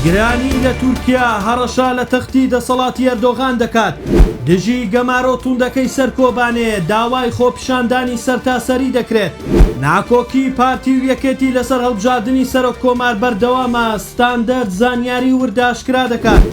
گرانی لە تورکیا هەڕەشە لە تەختی دەسەڵاتی ئەردۆغان دەکات، دژی گەمارۆ توندەکەی سەر کۆبانێ داوای خۆپیشاندانی سەرتاسەری دەکرێت. ناکۆکی پارتی و یەکێتی لەسەر هەڵبژاردنی سەرۆک کۆمار بەردەوامە، ستاندەرد زانیاری وردئاشکرا دەکات.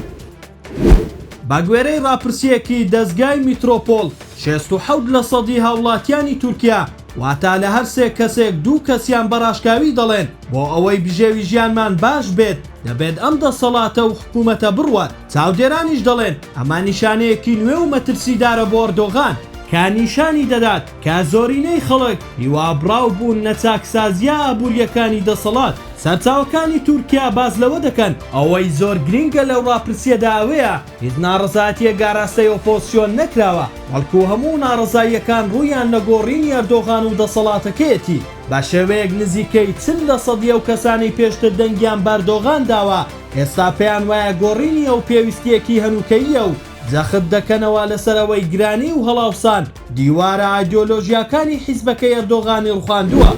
بەگوێرەی راپرسییەکی دەزگای میترۆپۆڵ، شێست و حەوت لە سەدی هاوڵاتیانی تورکیا، واتە لە هەر سێ کەسێک دوو کەسیان بە راشکاوی دەڵێن، بۆ ئەوەی بژێوی ژیانمان باش بێت، دەبێت ئەم دەسەڵاتە و حکومەتە بڕوات. چاودێرانیش دەڵێن، ئەمە نیشانەیەکی نوێ و مەترسیدارە بۆ ئەردۆغان، کە نیشانی دەدات کە زۆرینەی خەڵک هیوابڕاو بوون لە چاکسازییە ئابوورییەکانی دەسەڵات، سەرچاوەکانی تورکیا باس لەوە دەکەن، ئەوەی زۆر گرنگە لەو ڕاپرسییەدا ئەوەیە هیچ ناڕەزایەتییەک ئاراستەی ئۆپۆزسیۆن نەکراوە، بەڵکو هەموو ناڕەزاییەکان ڕوویان لە گۆڕینی ئەردۆغان و دەسەڵاتەکەیەتی، بە شێوەیەک نزیکەی چل لەسەدی ئەو کەسانەی پێشتر دەنگیان بە ئەردۆغان داوە، ئێستا پێیان وایە گۆڕینی ئەو پێویستییەکی هەنووکەییە و جەخت دەکەنەوە لەسەر ئەوەی گرانی و هەڵاوسان دیوارە ئایدیۆلۆژیاکانی حیزبەکەی ئەردۆغانی ڕوخاندووە.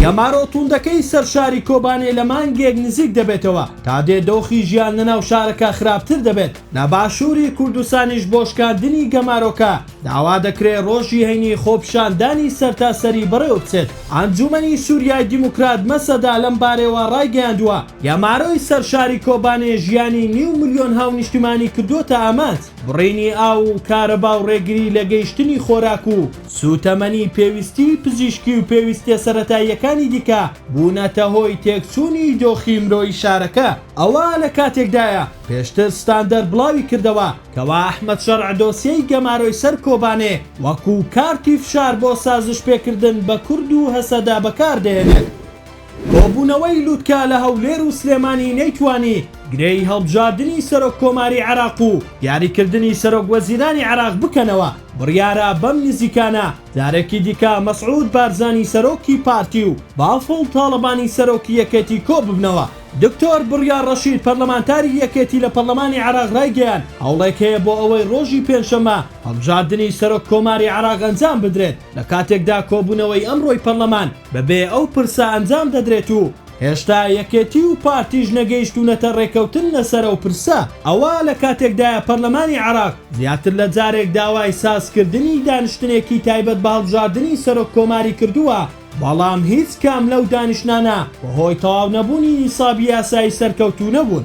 گەمارۆ توندەکەی سەر شاری کۆبانێ لە مانگێک نزیک دەبێتەوە، تا دێ دۆخی ژیان لە ناو شارەکە خراپتر دەبێت، لە باشووری کوردستانیش بۆ شکاندنی گەمارۆکە داوا دەکرێت ڕۆژی هەینی خۆپیشاندانی سەرتاسەری بەڕێوەبچێت. ئەنجومەنی سوریای دیموکرات مەسەدە لەم بارەیەوە ڕایگەیاندووە، گەمارۆی سەر شاری کۆبانێ ژیانی نیو ملیۆن هاونیشتیمانی کردووەتە ئامانج. بڕینی ئاو و کارەبا و ڕێگری لە گەیشتنی خۆراک و سووتەمەنی پێویستیی پزیشکی و پێویستییە سەرەتاییەکانی دیکە بوونەتە هۆی تێکچوونی دۆخی مرۆیی شارەکە. ئەوە لە کاتێکدایە، پێشتر ستاندەر بڵاوی کردەوە کەوا ئەحمەد شەرع دۆسیەی گەمارۆی سەر کۆبانێ وەکوو کارتی فشار بۆ سازشپێکردن بە کورد و هەسەدە بەکار دەهێنێت. کۆبوونەوەی لوتکە لە هەولێر و سلێمانی نەیتوانی گرێی هەڵبژاردنی سەرۆک کۆماری عێراق و دیاریکردنی سەرۆک وەزیرانی عێراق بکەنەوە، بڕیارە بەم نزیکانە جارێکی دیکە مەسعود بارزانی سەرۆکی پارتی و بافڵ تاڵەبانی سەرۆکی یەکێتی کۆببنەوە. دکتۆر بڕیار ڕەشید پەرلەمانتاری یەکێتی لە پەرلەمانی عێراق ڕایگەیاند، هەوڵێک هەیە بۆ ئەوەی ڕۆژی پێنجشەممە هەڵبژاردنی سەرۆک کۆماری عێراق ئەنجام بدرێت، لە کاتێکدا کۆبوونەوەی ئەمڕۆی پەرلەمان بەبێ ئەو پرسە ئەنجام دەدرێت و هێشتا یەکێتی و پارتیش نەگەیشتوونەتە رێککەوتن لەسەر ئەو پرسە، ئەوا لە کاتێکدایە پەرلەمانی عێراق زیاتر لە جارێک داوای سازکردنی دانیشتنێکی تایبەت بە هەڵبژاردنی سەرۆک کۆماری کردووە، بەڵام هیچ کام لەو دانیشتنانە بەهۆی تەواونەبوونی نیسابی یاسایی سەرکەوتوو نەبوون.